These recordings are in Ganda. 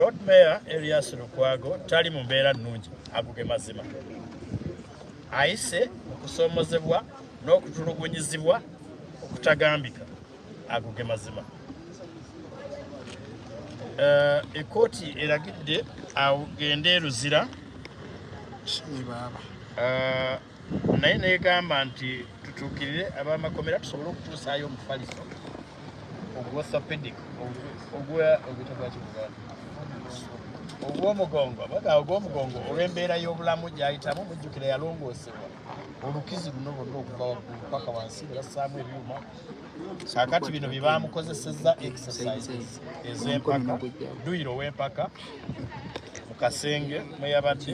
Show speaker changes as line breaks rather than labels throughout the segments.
Lord Mayor Erias Lukwago tali mu mbeera nnungi aguge mazima ayise okusoomozebwa n'okutulugunyizibwa okutagambika aguge mazima eh, ekkooti eragidde agende eruzira eh, naye negamba nti tutuukirire abamakomera tusobole okutuusaayo omufaliso ogwosopedic ogwomugongo baga ogwomugongo olw'embeera y'obulamu gyayitamu mujjukira yalongoosebwa olukizi luno lwonna okuva waggulu paka wansi ne bassaamu ebyuma kakati bino bye baamukozesezza exercises ez'empaka duyiro ow'empaka mu kasenge mwe yabadde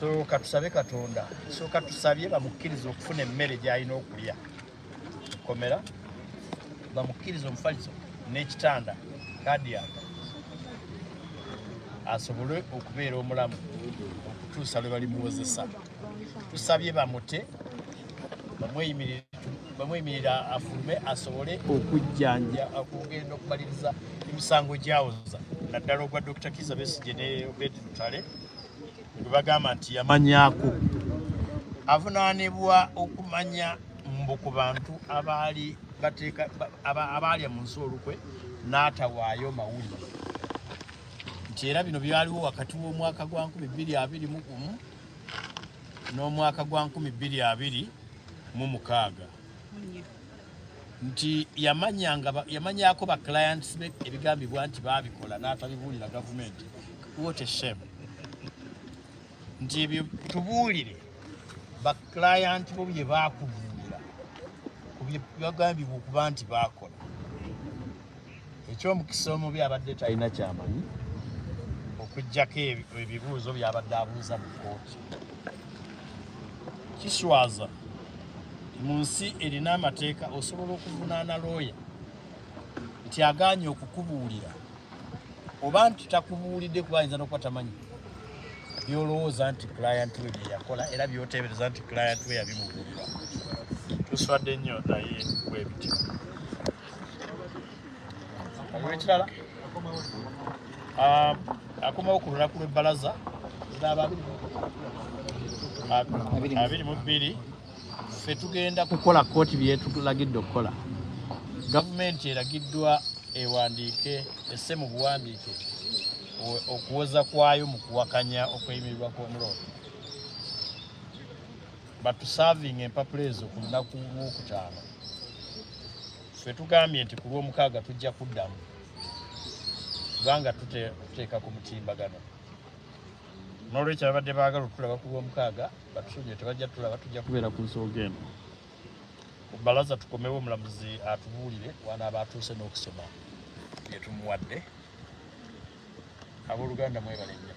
so katusabe katonda so katusabye bamukkiriza okufuna emmere gyalina okulya mukomera bamukkiriza omufaliso n'ekitanda kadiyaka asobole okubeera omulamu okutuusa lwe balimuwozesa tusabye bamute bamweyimirira afulume asobole okujjanja okugenda okumaliriza emisango gyawoza naddala ogwa dr kiza besigye ne obed lutale gwe bagamba nti yamanyako avunaanibwa okumanya mbu ku bantu abaali bateeka abaalya mu nsi olukwe n'atawaayo mawulire nti era bino byaliwo wakati w'omwaka gwa 221 n'omwaka gwa 2026 nti yamanyako ba clients be ebigambibwa nti baabikola n'atabibuulira gavumenti what a shame nti ebyo tubuulire ba client bo bye baakubuulira ku byebagambibwa okuba nti baakola eky'omukisa omubi abadde talina kyamanyi okujjako ebibuuzo byabadde abuuza mu kooti kiswaza mu nsi erina amateeka osobola okuvunaana looya nti agaanye okukubuulira oba nti takubuulidde kuba ayinza nokuba tamanyi byolowooza nti client we byeyakola era byoteebereza nti client we yabimubuulira tuswadde nnyo naye bwebityo ekirala ah, akomawo ku lunaku lw'ebbalaza abiri mu bbiri ffe tugenda kukola kooti byetulagidde okukola gavumenti eragiddwa ewandiike esse mu buwandiike okuwoza kwayo mu kuwakanya okweyimirirwa kw'omulooto batusavinga empapula ezo ku lunaku lwokutaano fe tugambye nti ku lwomukaaga tujja kuddamu kubanga tuteeka ku mutimbagano nolwekyo babadde baagala otulaba ku lwomukaaga batusubye tebajja tulaba tujja kubeera ku nsonga eno balaza tukomewo omulamuzi atubuulire wanaaba atuuse n'okusoma byetumuwadde abooluganda mwebale nnyo